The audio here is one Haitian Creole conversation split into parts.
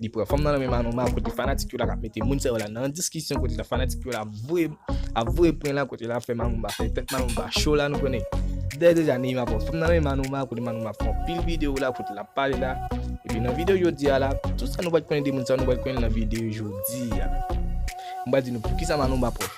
Li pran fanm nan nan men Manou Ma kote fanatik yo la kap mete moun sa yo la nan diskisyon kote la fanatik yo la ap voye ap voye pren la kote la ap fè Manou Ma fè tèt Manou Ma cho la nou konnen. Dèyè deja Neyma pran fanm nan nan men Manou Ma kote Manou Ma pran pil videyo la kote lap pale la. Epi nan videyo jodi a la, tout sa nou pat konnen de moun sa yo nou pral konnen nan videyo jodi a. M pral di nou poukisa Manou Ma pran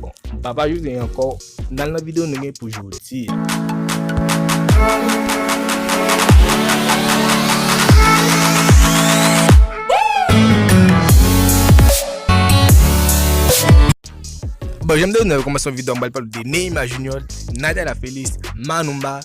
Bon, m pa pa jure ankò, n al nan video nou gen pou jodi a. Bon, jan m te di nou nan kòmansman video a m pral pale de Neymar Junior, Nathalie Lafelis, Manoumba.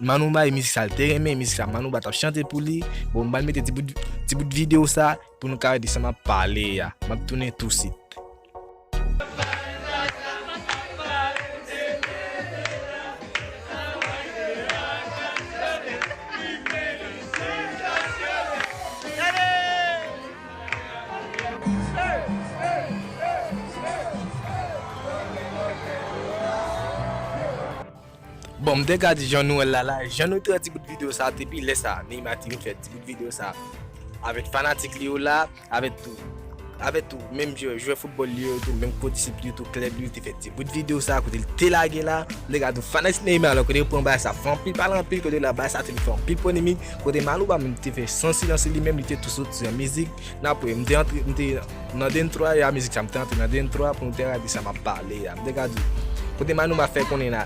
Manou bay mizik sa l te renmen mizik sa Manouba tap chante pou li bon m bal mete ti bout ti bout video sa pou nou ka wè de sa map pale a map tounen tou sit. Bon m te ka di jan nou wè l la la, jan nou te wè ti bout video sa depi lè sa Neymar te vin fè ti bout video sa avèk fanatik li yo la, avèk tou avèk tou menm jwè foutbòl li yo tou, menm kondisip li yo tou, klèb li yo te fè ti bout video sa kote l te lage la, m te ka di w fanatik Neymar la kote yo pran Barça fè anpil pale anpil kote la Barça te vin fè anpil polemik kote Malouba menm te fè san silans li menm li te tou soti an mizik nan apre m te antre m te Nan dntwa ya mizik sa m te antre nan dntwa pou m te radi sa map pale ya m te ka di kote manouma fè konnen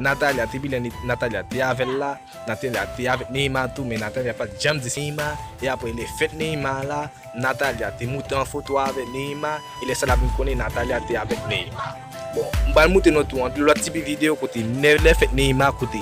Nathalia te pi lè Nathalia te avèl la Nathalia te avèk Neymar tou men Nathalia pat janm di Neymar e aprè lè fèt Neymar la Nathalia te moute an foto avèk Neymar e lè sa lap vin konnen Nathalia te avèk Neymar bon m pral moute nou tou anpil lòt tipi video kote lè fèt Neymar kote.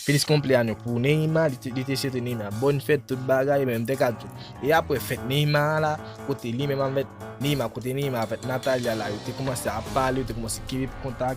Feliz cumpleaños pou Neymar, li te swete Neymar bòn fèt tout bagay menm te ka tou. E aprè fèt Neymar an la, kote li menm avèk Neymar, kote Neymar avèk Natalia la yo te koumanse ap pale, yo te koumanse keep kontak.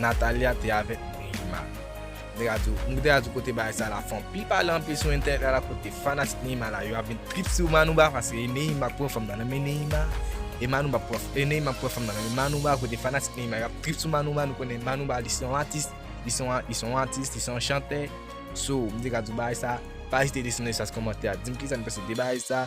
Nathalia te avèk Neymar Mwen radio Mwen kite radio kote bagay sa la fè anpil pale anpil sou entènèt la la kote fanatik Neymar la yo ap vin trip sou Manouba paske Neymar ap pran fanm nan nan men Neymar e Manouba ap pran e Neymar ap pran fanm nan nan men Manouba kote fanatik Neymar yo ap trip sou Manouba nou konnen Manouba li se yon atis li se yon li se yon atis li se yon chantè so m te ka di w bagay sa pa ezite desann nan espas kòmantè a di m kisa nou panse de bagay sa.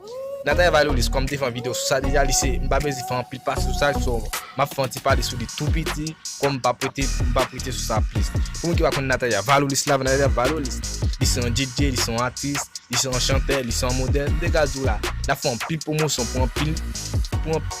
Nathalie Valolis kòm m te fè yon video sou sa deja li se m pa beze fè anpil pase sou sa so map fè yon ti pale sou li tou piti kòm m pap rete m pap rete sou sa plis pou moun ki pa konn Nathalie Valolis la Nathalie Valolis li se yon DJ li se yon atis li se yon chantè li se yon modèl m te ka di w la lap fè anpil pwomosyon pou anpil pou anpil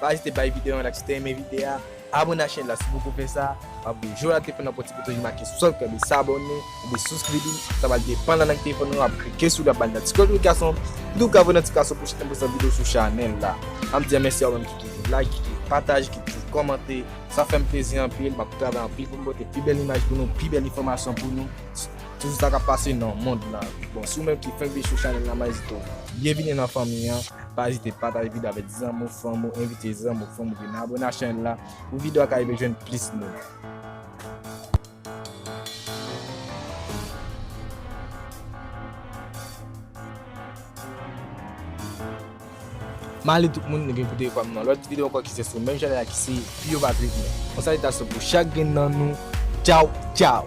Pa ezite bay video yon like si w te renmen vide a, abone ak chèn la si poko fè sa, wap gen jou rate pou nan pòti bouton ki make subscribe li sabòne oubyen souscribe li, sa pral depann nan lang telefòn ou wap klike sou li wap bal noticotrication epi tou ka voye notifikasyon pwochen tan pwochen video sou chanèl la. Map di yon mèsi a ou menm ki toujou like, ki toujou pataje, ki toujou kòmante, sa fèm plezi anpil, map travay anpil poum pote pi bèl imaj pou nou, pi bèl enfòmasyon pou nou. Toujou sa kap pase nan mond la. Bon si ou menm ki fenk vin sou chanel la maes do. Byen vini nan fanmi an. Pa ezite pataje video avek zanmi w fanmi w envite zanmi w fanmi w vin abone ak chanel la pou video a ka rive jwenn plis moun. Male tout moun nou vin koute yo pam nan lòt video ankò ki se sou menm chanèl la ki se Pi yo pa pi byen. Yon salitasyon pou chak grenn nan nou Tchaw tchaw.